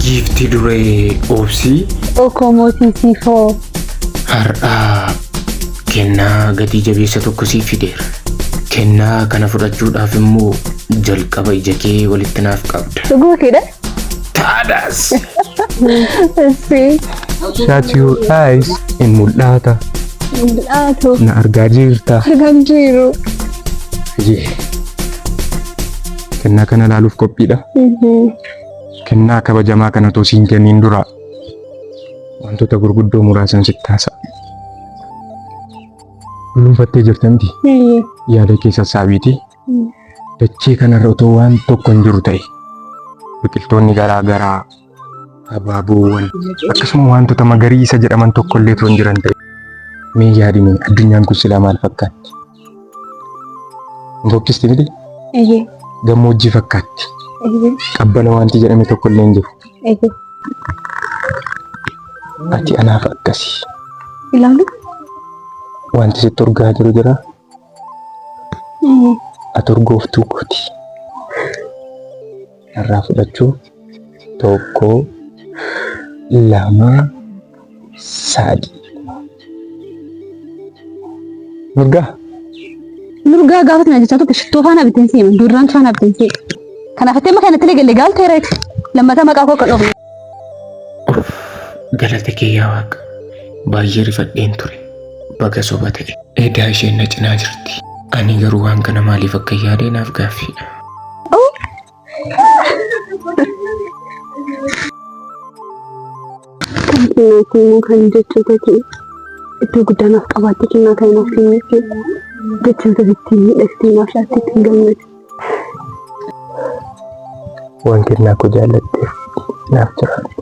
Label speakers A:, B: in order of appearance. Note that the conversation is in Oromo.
A: Giifti duree obsii Okomotiisifoo.
B: har'aa
A: kennaa gatii jabeessa tokko siif fideera. Kennaa kana fudhachuudhaaf immoo jalqaba ija kee walitti naaf qabda. Dhuguu keedha.
B: Taadaas!
A: Issi.
C: Shut your eyes in mul'ata. Mul'atu.
B: Na argaa
C: jirta. Argan jiru.
B: Jee.
C: Kennaa kana ilaaluuf qophiidha. Kennaa kabajamaa kana otoo siin kenniin dura wantoota gurguddoo muraasan sitti haasa'a. Bulunfattee jirta miti yaada kee sassaabiiti. Dachee kanarra otoo waan tokko hin jiru ta'e biqiltoonni garaa garaa Abaaboowwan akkasuma wantoota magariisa jedhaman tokkollee turan jiran ta'e. Mee yaadime addunyaan kun silaa maal fakkaatti? Hin fokkisti miti? Eeyyee. Gammoojjii fakkaatti. Eeyyee. Qabbana wanti jedhame tokkollee hin jiru. Eeyyee. Ati anaaf akkasi. Ilaalu. Wanti sitti urgaa jiru jira. aturgooftuu kooti irraa fudhachuu tokko lama saadi mirgaa
B: Nurgaa gaafa tana jechaa turte shittoo faana bitteen seema. Duraan faana bitteen seema. Kanaaf itti amma kanatti illee galle gaalteera. Lammataa maqaa koo akka dhoofu. Uff
A: galata kee yaa waaqa baay'ee rifadheen ture baga soba ta'e. Edaa isheen na cinaa jirti. Ani garuu waan kana maaliif akka yaade naaf gaaffiidha.
B: Kennaatii immoo kan jechoota kee iddoo guddaa naaf qabaattee kennaa kan naaf kenneef jechoota ittiin miidhagsitee naaf laatte ittiin gammade.
C: Wanti inni akka jaallatteef naaf jiraadhu.